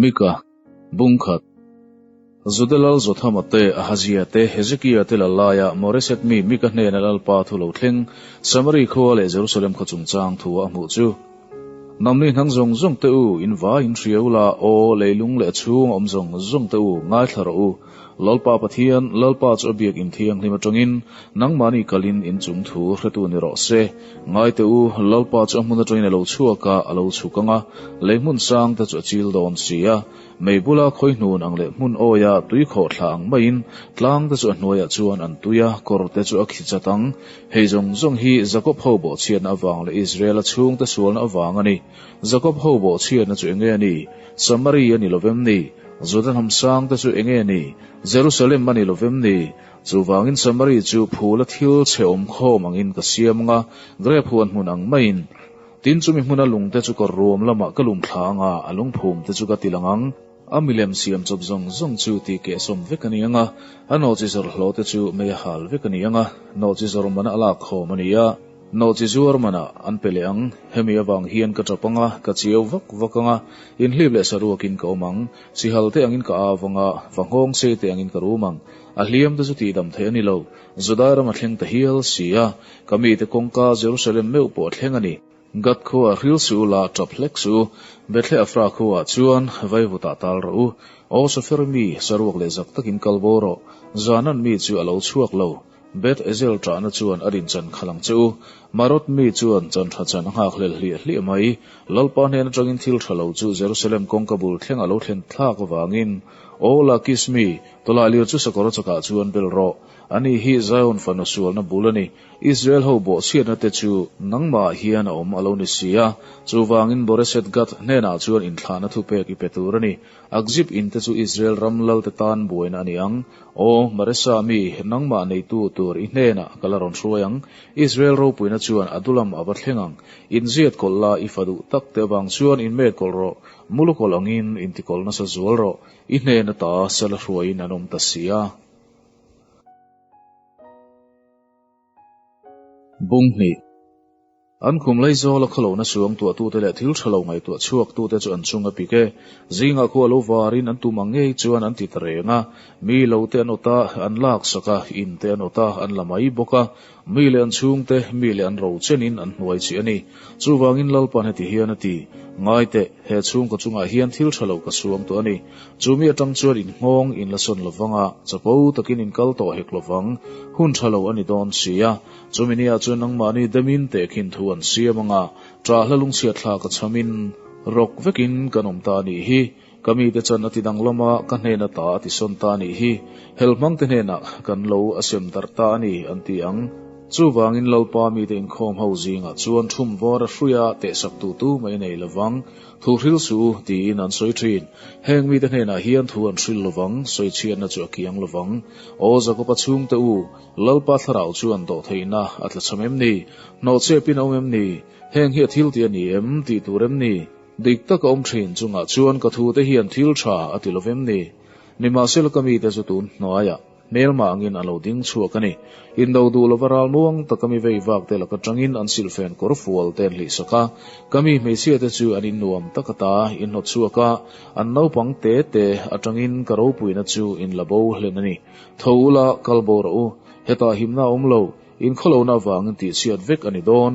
Mika, bung khat. Juda lal Jothama te Ahazia te Hezekia te la laia Moreset mi Mika hnena lalpa thu lo thleng Samari khua leh Jerusalem khaw chungchang thu a hmuh chu. Namni hnang zawng zawng te u, in vai in hria u la, aw, leilung leh a chhung awm zawng zawng te u, ngaithla rawh u, Lalpa Pathian, Lalpa chu a Biakinn thianghlim atangin nangmahni kalin in chung thu hretu ni rawh se. Ngai teh u, Lalpa chu a hmun atangin a lo chhuak a, a lo chhuk ang a, lei hmun sang te chu a chil dawn si a, mei bula khawi hnun ang leh hmun awia tui khawh thla ang maiin tlang te chu a hnuaiah chuan an tui a, kawr te chu a khi chat ang. Hei zawng zawng hi Jakob ho bawhchhiatna avang leh Israela chhungte sualna avang a ni. Jakob ho bawh chhiatna chu enge a ni? Samari a ni lovem ni? Juda hnam sangte chu enge a ni? Jerusalem a ni lovem ni? Chuvangin Samari chu phula thil chheawm khawm angin ka siam anga, grape huan hmun ang maiin. Tin chumi hmuna lungte chu ka ruam lamah ka lum thla anga a lungphumte chu ka ti lang ang. A milem siam chawp zawng zawng chu ti keh sawm vek a ni ang a, a nawhchi zawrh hlaw te chu mei a hal vek a ni ang a, nawhchi zawrh man a lak khawm a ni a, nawhchi zuar man ah an pe leh ang, hemi avang hian ka tap ang a, ka chiau vak vak ang a, inhlip leh saruak in ka awm ang, chihal te angin ka au vang a, va nghawng sei te angin ka rum ang, a hliam te chu tihdam theih a ni lo, Judairama thleng ta hial si a, ka mite kawngka Jerusalem meuh pawh thleng a ni. Gat khaw ah hril si u la, tap hlek si u. Bethleh a frak ho ah chuan vaivut ah tal rawh u. Aw Sofer mi, saruak leh zak takin kal bo rawh. Zaanan mi chu a lo chhuak lo. Beth Ezel tahna chuan a din chan khalh ang che u. Marot mi chuan chanhra chan a nghak hlel hliah hliah mai. Lalpa hnen atangin thil tha lo chu Jerusalem kawngka bul thleng a lo thlen thlak avangin, Aw Lakis mi, tawlailir chu sakawr a chakah chuan bel rawh. Ani hi Zion fanu sualna bul a ni. Israel ho bawhchhiatna te chu nangmah hian a awm a lo ni si a, chuvangin Moreshet Gat hnenah chuan inthlahna thupek i pe tur a ni. Akzip in te chu Israel ram lalte tan buaina a ni ang. Aw, Maresa mi nangmah neitu tur i hnenah ka la rawn hruai ang. Israel ropuina chuan a dulam a va thleng ang. Inziat kawlh la, i fa duh tak te avang chuan in met kawlh rawh, mulu kawlh angin in ti kawlh nasa zual rawh, i hnen ata sela hruaiin an awm ta sia. Bung hnih, An khum lei zawl a khawlo nasuang tuahtute leh thil thalo ngaihtuah chhuaktute chu an chung a pik e. Zingah khuh a lo varin an tum ang ngei chuan an ti ta reng a. Mi lo te an awt a, an lak sak a, in te an awt a, an la mai bawk a. Mi leh an chhungte, mi leh an ro chenin an hnuai chih a ni. Chuvangin Lalpan heti hian a ti, Ngai teh, he chhungkaw chungah hian thil tha lo ka suang tawh a ni. Chumi atang chuan in nghawng, in la sawn lo vang a, chapo takin in kal tawh hek lo vang. Hun tha lo a ni dawn sia. Chumi ni ah chuan nangmahni demin teh khin thu an siam ang a, ṭah hla lungchhiat thlak a chhamin rawk vekin kan awm ta a nih hi. Ka mite chuan a ti dang lawm a, ka hnen a ta a ti sawn ta nih hi, hel hmang te hnenah kan lo a sem darh ta a ni an ti ang. Chuvangin Lalpa mite inkhawm ho zingah chuan thum var a hruih a, tehsak tu tu mai nei lo vang, thu hril su tiin an sawi thin. Heng mite hnenah hian thu an hril lo vang, sawi chhiatna chu a kiang lo vang. Aw Zakopa chhungte u, Lalpa thlarau chuan dawh theihna a tla chham em ni? Hnawh chep in a awm em ni? Heng hi a thil tih a ni em? Tih tur em ni? Dik tak a awm thin chungah chuan ka thute hian thil tha a ti lovem ni? Nimahsela ka mite chu tun hnuaiah hmel mangin an lo ding chhuak a ni. Indo duh lova ral nuang taka mi vei vak te laka tangin an silfen kawr fual te an hlihsak a, ka mi hmeichhia te chu an in nuam tak a ta, in hnawt chhuak a, an naupang te te atangin ka ropuina chu in la bo hlen a ni. Tho ula, kal bo rawh u, hetah himna a awm lo. Inkhawlona avangin tih chhiat vek a ni dawn.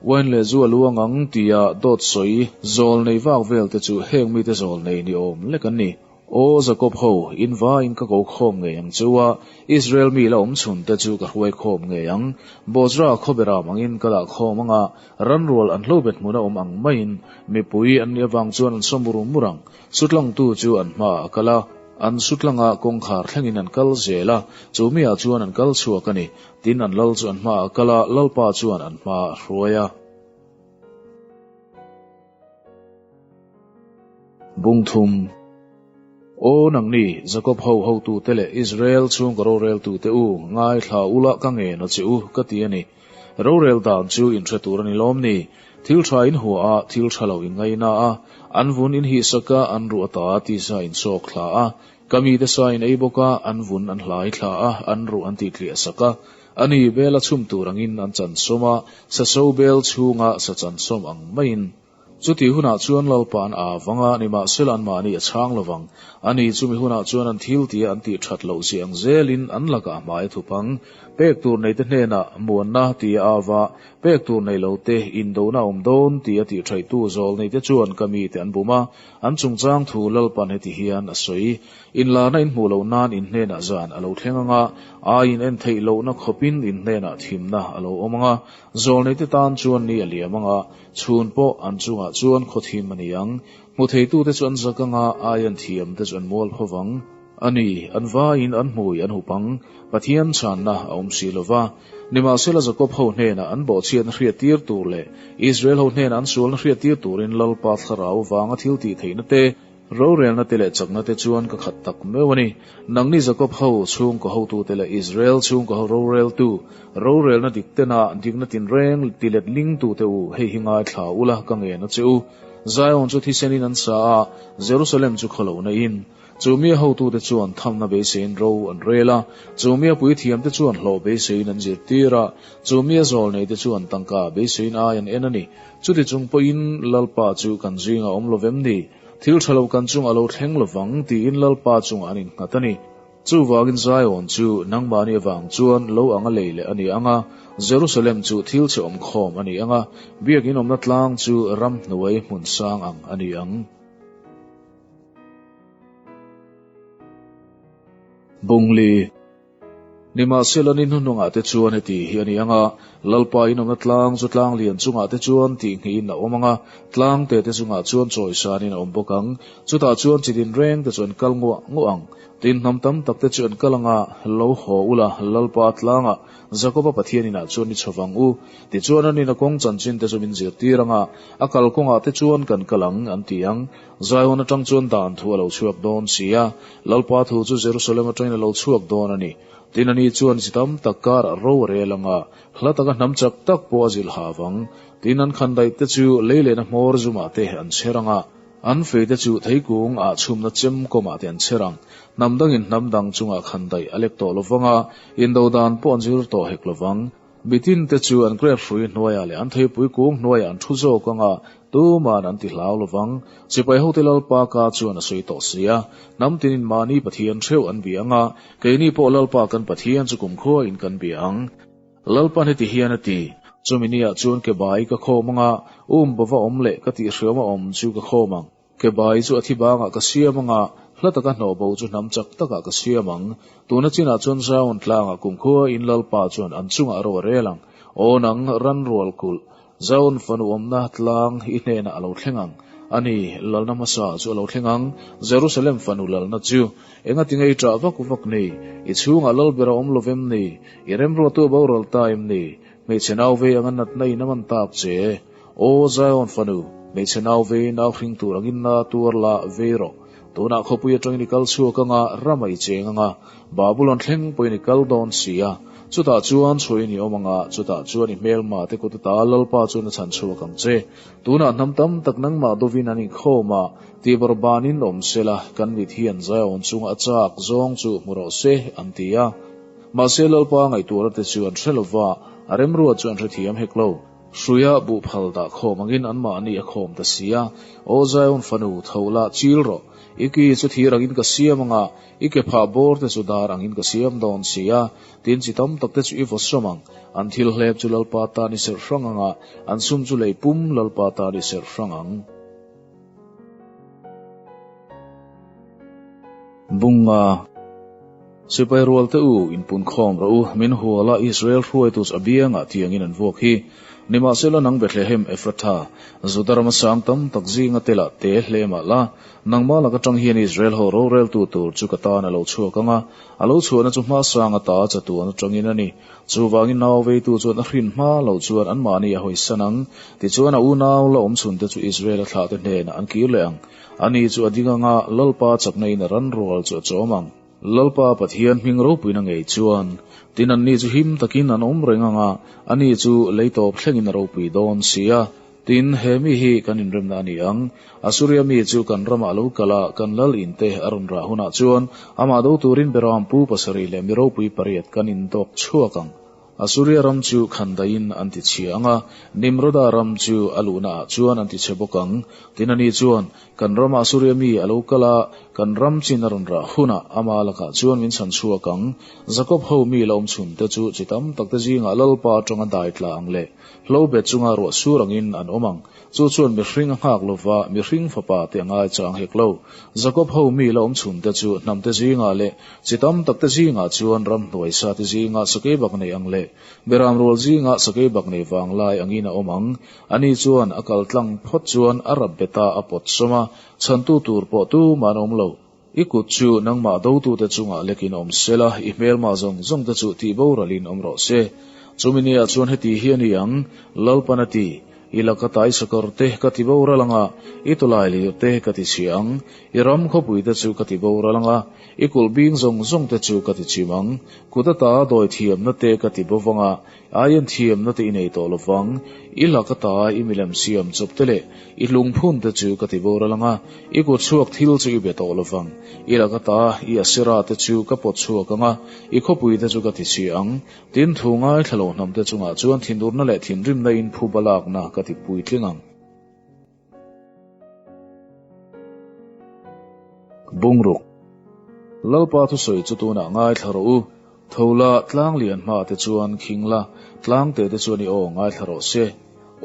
Wine leh zu a luang ang tia dawt sawi zawl nei vak velte chu heng mite zawl nei ni awm lek an ni. Aw Jacob ho, in va in ka ko khawm ngei ang chu a, Israel mi la awm chhun te chu ka hruai khawm ngei ang. Bozra a khawbe ram angin ka dah khawm anga, ranrual an hlobet hmuna awm ang maiin mipui an nih avang chuan an saw mur mur ang. Sutlangtu chu an hma a kal a, an sutlanga kawngkhar thlengin an kal zel a, chumi ah chuan an kal chhuak a ni. Tin an lal chu an hma a kal a, lalpa chuan an hma a hruai a. Bungthum, Aw nangni Jakob ho hotute leh Israel chhunga roreltute u, ngaithla ula ka ngen a che u, ka ti a ni. Rorel dan chu inhre tur a ni lawm ni? Thil tha in hua a, thil tha lo in ngaih na a, an vun in hih sak a, an ruh a ta a tih sa in chawk thla a, ka mi te sa in ei bawk a, an vun an hlai thla a, an ruh an tih tliah sak a, a nih bel a chhum tur ang in an chansawm a, sa sobel chhung a sa chansawm ang mai in. Chuti hunah chuan Lalpa'n aa vang a, nimahsela anmahni a chhang lovang. A ni chu mi hunah chuan an thil tia an tih that loh ziah ang zelin an lakah a hmai thup ang. Pek tur neite hnenah muanna tia a av a, pek tur nei lo te indohna a awm dawn tia tih thaihtu zawl neite chuan ka mite an bum a, an chungchang thu Lalpa'n heti hian a sawi. Inlarna in hmuh loh nan inhnenah zan a lo thleng ang a, ai in en theih lohna khawpin inhnenah thimna a lo awm ang a, zawl neite tan chuan ni a liam ang a. Chhun pawh an chungah chuan khaw thim a ni ang. Hmu theitute chu an zak anga aia an thiam te chu an mual ho vang. A ni, an vaiin an hmui an hup ang. Pathian chhanna a awm si lo va. Nimahsela Jakob ho hnena an bawhchhiatna hriat tir tur leh Israel ho hnena an sualna hriat tir turin Lalpa thlarau vanga thil tih theihna te, Rorelna te leh chakna te chuan ka khat tak meuh a ni. Nangni Jakob ho chhungkaw hotu te leh Israel chhungkaw ho roreltu, rorelna dik tena dikna tinreng ti letling tu te u, hei hi ngaithla ula ka ngen a che u. Zion chu thisenin an sa a, Jerusalem chu khaw lohna in. Chumia hotu te chuan thamna beiseiin ro an rel a, chumia puithiam te chuan hlawh beiseiin an zir tir a, chumia zawlnei te chuan tangka beiseiin ai an en a ni. Chuti chung pawhin Lalpa chu kan zingah awm lovem ni? Thil tha lo kan chungah lo thleng lovang tiin Lalpa chungah an innghat a ni. Chuvangin Zion chu nangmahni avang chuan lo anga lei leh a ni ang a, Jerusalem chu thil che awm khawm a ni ang a, biakin awmna tlang chu ramhnuai hmun sang ang a ni ang. Bungli. Nimahsela ni hnu hnungah te chuan heti hi a ni ang a, Lalpa inawmna tlang chu tlang lian chungah te chuan tih nghiin a awm ang a, tlang te te chungah chuan chawisanin a awm bawk ang. Chutah chuan chi dinreng te chu an kal ngawh ngawh ang. Dinhnam tam tak te chu an kal ang a, Lo haw u la, Lalpa tlangah Jakoba Pathianinah chuan ni chho vang u, tichuan an ina kawng chanchin te chu min zirtir ang a, a kal kawngah te chuan kan kal ang, an ti ang. Zion atang chuan dan thu a lo chhuak dawn si a, Lalpa thu chu Jerusalem atangin a lo chhuak dawn a ni. Tin a ni chuan chi tam tak kar a ro a rel ang a, hla taka hnam chak tak pawh a zilh hav ang. Tin an khan daih te chu lei lehna hmawr zumah te an chher ang a, an fei te chu thei kung ah chhumna chem kawmah te an chher ang. Hnam dangin hnam dang chungah khan daih a lek tawh lo vang a, indo dan pawh an zir tawh hek lo vang. Bitin te chu an grab hrui hnuaiah leh an theipui kung hnuaiah an thu zawk anga tuma'n an ti hlau lo vang. Sipai hote Lalpaka chuan a sawi tawh si a, hnam tin in mahni Pathian hreuh an bia anga keini pawh Lalpa kan Pathian chu kum khuain kan bia ang. Lalpan heti hian a ti, Chumi ni ah chuan ke bai ka khawm anga, um bova awm leh ka tih hriauma awm chu ka khawm ang. Kebai chu a thi bangah ka siam anga, hla taka hnawh bo chu hnam chak takah ka siam ang. Tuna chinah chuan zaun tlangah kum khua in Lalpa chuan an chungah a rawh rel ang. Aw nang, ran rual kulh. Zaun fanu awmna tlang i hnenah a lo thleng ang. A ni, lalna hmasa chu a lo thleng ang, Jerusalem fanu lalna chu. Engati ngei ṭah vak vak ni? I chhungah lal ber a awm lo vem ni? I remruahtu a boral ta em ni? Hmeichhe nau vei anga natna in a man tak che. Aw Zion fanu, hmeichhe nau ve nau hring tur ang inna tuar la ve rawh. Tunah khawpui atangin i kal chhuak anga rama i cheng anga Babulon thleng pawhin i kal dawn si a. Chutah chuan chhuain i awm anga chutah chuan i hmelma te kut ata Lalpa chuan a chhan chhuak ang che. Tunah hnam tam tak nangmah dawvin an inkhawm a, tihbawrh banin awm sela kan mit hian Zion chunga a chak zawng chu hmu rawh se an ti a. Mahse Lalpa ngaihtuara te chu an hre lova, a remruat chu an hrethiam hek lo. Hruia buh phal dah khawm angin anmahni a khawm ta si a, Aw Zion fanu, tho lah, chil rawh. I ki chu thir angin ka siam anga, i ke phah bawr te chu dar angin ka siam dawn si a, tin chi tam tak te chu i vaw sawm ang. An thil hlep chu Lalpa tan i serh hrang anga, an sum chu lei pum Lalpa tan i serh hrang ang. Bunga, Sipai rualte u, inpunkhawm rawh u, min hual a, Israel hruaitus a biangah tiangin an vuak hi. Nimahsela nang Bethlehem Ephratha, Juda rama sang tam tak zinga tela te hle emah la, nangmah lak atang hian Israel ho roreltu tur chu ka tan a lo chhuak ang a, a lo chhuahna chu hmasa anga ta a chatuan atangin a ni. Chuvangin nau veitu chuan a hrin hma lo chuan anmahni a hawi san ang. Tichuan a unau la awm chhunte chu Israela thlahte hnenah an kir leh ang. Ani chu a ding anga Lalpa chakna ina ran rual chu a chawm ang. Lalpa Pathian hming ropuin a ngei chuan tin anni chu him takin an awm reng anga ani chu lei tawp thlengin a ropui dawn sia. Tin, he mi hi kan inremna a ni ang. Assuria mi chu kan ramah lo kal a, kan lal in te a rawn rah hunah chuan amah do turin Beraam pu pasarih leh mi ropui pariat kan indawk chhuak ang. Assuria ram chu khan daiin an tichhia ang a, Nimroda ram chu a luhnaah chuan an tichhe bawk ang. Tin, ani chuan kan ramah Assuria mi a lo kal a, kan ram chin a rawn rah hunah amah lakah chuan min chhan chhuak ang. Jakob ho mi la awm chhunte chu chi tam takte zingah Lalpa atanga dai tla ang leh Hlo bet chunga ruah sur angin an awm ang. Chu chuan mihring a nghak lova, mihring fapa te a ngai chang hek lo. Jacob ho mi la awm chhun te chu hnam te zingah leh chi tam tak te zingah chuan ram hnuai sa te zingah sakei bak nei ang leh beram rual zingah sakei bak nei vang lai angin a awm ang. Ani chuan a kal tlang phawt chuan a rap beta a pawt sawm a, chhantu tur pawh tum a an awm lo. I kut chu nangmah dotute chungah lekin awm sela, i hmelma zawng zawng te chu tih boralhin awm rawh se. Chumi ni ah chuan heti hi a ni ang, Lalpan a ti. I la ka tai sakawr te ka ti boral ang a, i tawlai lir te ka ti chhi ang, i ram khawpui te chu ka ti boral ang a, i kulh bing zawng zawng te chu ka ti chim ang. Kut ata dawi thiamna te ka ti bawk vang a, Ai an thiamna te i nei tawh lo vang, i la ka ta a, i milem siam chawp te leh i hlung phun te chu ka ti bawr a lang a, i kut chhuak thil chu i be tawh lo vang, i la ka ta a, i a sira te chu ka pawt chhuak ang a, i khawpui te chu ka ti chhi ang. Tin, thu ngai thla lo hnam te chungah chuan thinurna leh thinrimna in phu balakna ka ti puitling ang. Bungruk, Lalpa thusawi chu tunah ngaithla rawh u, Thola, Tlanglian hma te chuan Khingla, Tlangte te chuan i aw ngaithla rawh se.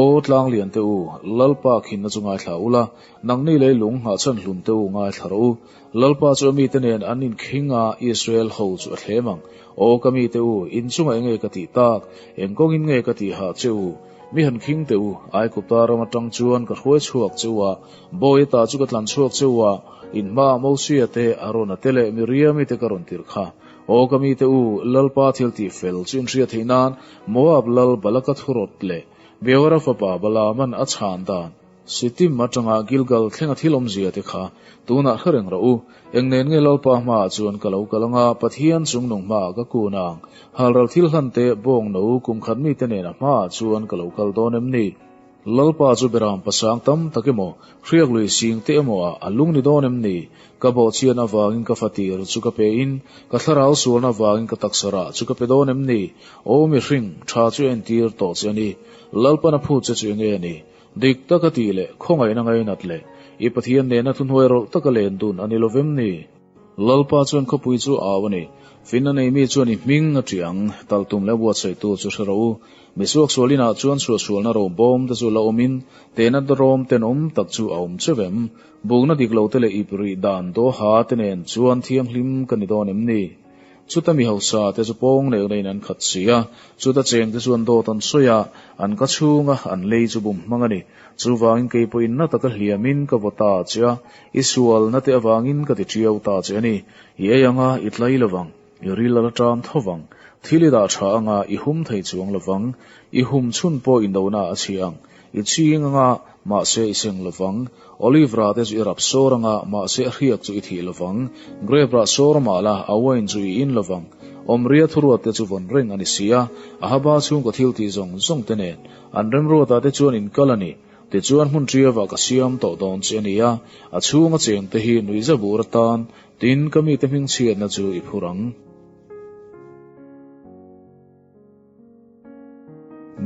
Aw Tlanglian te u, Lalpa khinna chu ngaithla ula, Nangni lei lung Nghahchan Hlun te u ngaithla rawh u, Lalpa chu a mite nen an inkhing a, Israel ho chu a thlem ang. Aw ka mite u, inchungah enge ka tih tak? Eng kawngin nge ka tih hah che u? Mi han khing teh u, Aikupa ram atang chuan ka hruai chhuak che u a, bawi atah chu ka tlan chhuak che u a, in hmaah Mosea te, Arona te leh Miriami te ka rawn tirh kha. Aw ka mite u, Lalpa thil tih fel chu in hria theih nan, Moab lal Balaka thu rawt leh Beora fapa Balaaman a chhan dan, Shittim atanga Gilgal thlenga thil awmzia te kha tunah hre reng rawh u. Eng nen nge Lalpa hmaah chuan ka lo kal ang a, Pathian chungnung hmaah ka kun ang? Halral thil hlan te, bawng no, kum khat mi te nena hmaah chuan ka lo kal dawn em ni? Lalpa chu beram pasang tam tak emaw, hriak lui sing te emaw ah a lung ni dawn em ni? Ka bawhchian avangin ka fatir chu ka pe in, ka thlarau sualna avangin ka taksa rah chu ka pe dawn em ni? Aw mi hring, tha chu a entir tawh che a ni. Lalpana phut che chu enge a ni? Dik taka tih leh khawngaihna ngainat leh i Pathian nena thuhnuai rawlh taka len dun a ni lovem ni? Lalpa chuan khawpui chu a au a ni. Fin a nei mi chuan i hming a ṭih ang. Tal tum leh buatsaih tu chu hre ro u. Misuak sual inah chuan chhuah sualna ro bawm te chu la awm in, tena dawrawm ten awm tak chu a awm chauh em? Bukna dik lo te leh ip rih dan dawha te nen chuan thianghlim ka ni dawn em ni? Chuta mi hausa te chu pawng nel neiin an khat si a, chuta cheng te chuan dawt an sawi a, an ka chhung a, an lei chu bum hmang a ni. Chu vangin kei pawh inna taka hliamin ka vawt ta che a, i sualna te avangin ka ti tiau ta che a ni. I ei ang a, i tlai lo vang, i ril a la ṭam tho vang, thil i dah ṭha anga i hum thei chuang lo vang, i hum chhun pawh i nona a chhi ang. I ching anga, mahse i seng lovang. Olive rah te chu i rap sawr anga, mahse hriak chu i thih lovang. Grape rah sawr a mah la, a wine chu i in lovang. Awmria thuruat te chu vawn reng a ni si a, Ahaba chhungkaw thiltih zawng zawng te nen an rem ruat ah te chuan in kal a ni. Tichuan hmun tial ah ka siam tawh dawn che ni a, a chhung a cheng te hi nuih zep ur atan, tin ka mite hming chhiatna chu i phur ang.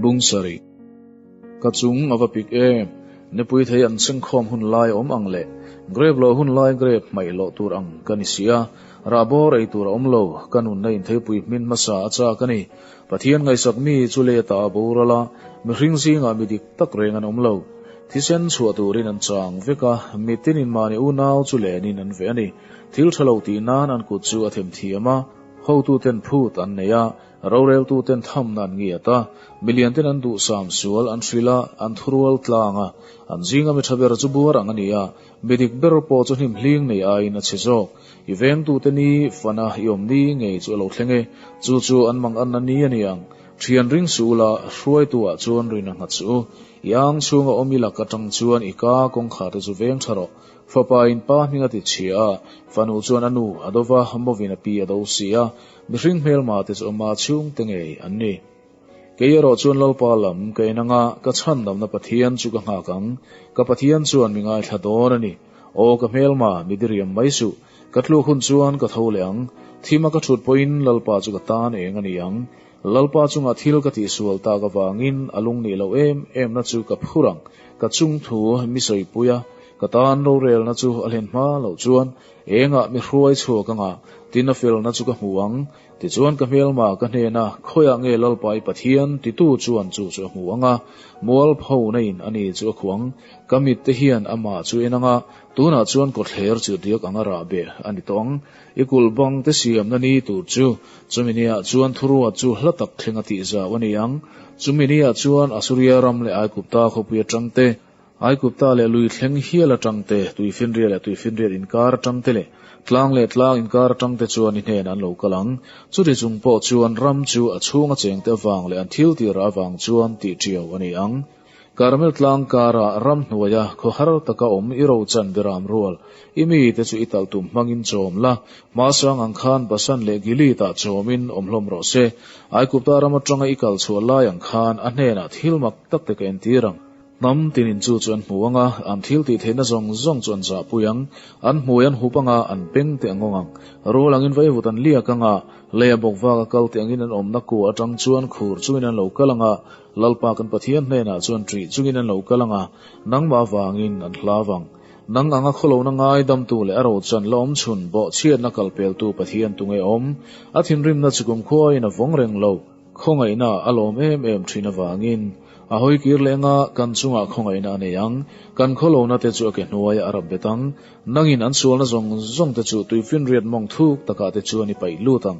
Bung sarih ka chung a va pik em. Nipui thei an chhengkhawm hun lai awm ang leh grep loh hun lai grep hmaih loh tur ang ka ni si a, rah bawr ei tur a awm lo, ka nunna intheipui hmin hmasa a chak a ni. Pathian ngaisak mi chu leta a boral a, mihring zingah mi dik tak reng an awm lo. Thisen chhuah turin an chang vek a, mitinin mahni unau chu lenin an ve a ni. Thil tha lo tih nan an kut chu a themthiam a. Hotu ten phut an nei a, rorel tu ten thamna an ngiat a, mi lian ten an duh sam sual an hrilh a, an thurual tlang a, an zinga mi tha ber chu buar ang a ni a, mi dik ber pawh chu hnim hling nei aiin a chhe zawk. I veng tu te ni fan a, i awm ni ngei chu a lo thleng e, chu chu an mang an na ni a ni ang. Thian ring su ula, hruai tu ah chuan rin a nghat su u, i ang chhung a awm i lak atang chuan i ka kawngkhar te chu veng tha rawh. Fapa in pa hming a ti chhia a, fanu chuan a nu a dova, mawvin a pi a do si a, mihring hmelma te chu ama chhung te ngei an ni. Kei erawh chuan Lalpa lam ka en anga ka chhan lamna Pathian chu ka nghak ang, ka Pathian chuan mi ngaithla dawn a ni. Aw ka hmelma, mi diriam mai suh, ka tluk hun chuan ka tho leh ang, thim a ka thut pawhin Lalpa chu ka tan eng a ni ang, Lalpa chunga thil ka tih sual tak avangin a lung nih loh em emna chu ka phur ang. Ka chungthu misawi pui a, ka tan rorelna chu a hlen hma loh chuan engah mi hruai chhuak anga tin a felna chu ka hmu ang. Tichuan ka hmelma ka hnena khawiah nge Lalpa i Pathian titu chuan chu chu a hmu ang a, mual pho naiin a ni chu a khuang. Ka mitte hian amah chu en anga tunah chuan kawtthler chirhriak anga rah beh a ni tawh ang. I kulh bang te siamna ni tur chu chumi ni ah chuan thuruat chu hla tak thleng a tih zau a ni ang. Chumi ni ah chuan Assuria ram leh Aigupta khawpui atang te, Aigupta leh lui thleng hial atang te, tui finriat leh tui finriat inkar atang te leh tlang leh tlang inkar atang te chuan ni hnenah an lo kal ang. Chuti chung pawh chuan ram chu a chhung a cheng te avang leh an thil tirah avang chuan tih ṭiau a ni ang. Carmel tlang kara ram hnuaia khawhar taka awm i rochan biram rual i mite chu i talh tum hmangin chawm la, hma sang ang khan Basan leh Gilead ah chawmin awm hlawm rawh se. Aigupta ram atanga i kal chhuah lai ang khan a hnenah thil mak tak te ka entir ang. Hnam tin in chu chu an hmu ang a, an thil tih theihna zawng zawng chu an zahpui ang. An hmui an hup anga an beng teh ngawng ang. Rul angin vaivut an liak anga lei a bawk vak a kal teh angin an awmna kuah atang chuan khur chungin an lo kal anga Lalpa kan Pathian hnenah chuan ṭih chungin an lo kal ang a, nangmah vangin an hla vang. Nang anga khawlona ngaidamtu leh a rochan lawm chhun bawhchhiatna kalpeltu Pathian tunge awm? A thinrimna chu kumkhuain a vawng reng lo. Khawngaihna a lawm em em ṭhin avangin a hawi kir leh ang a, kan chungah khawngaihna a nei ang. Kan khawlona te chu a ke hnuaia a rap bet ang. Nangin an sualna zawng zawngte chu tuifinriat mawngthuk takah te chuan i paih lut ang.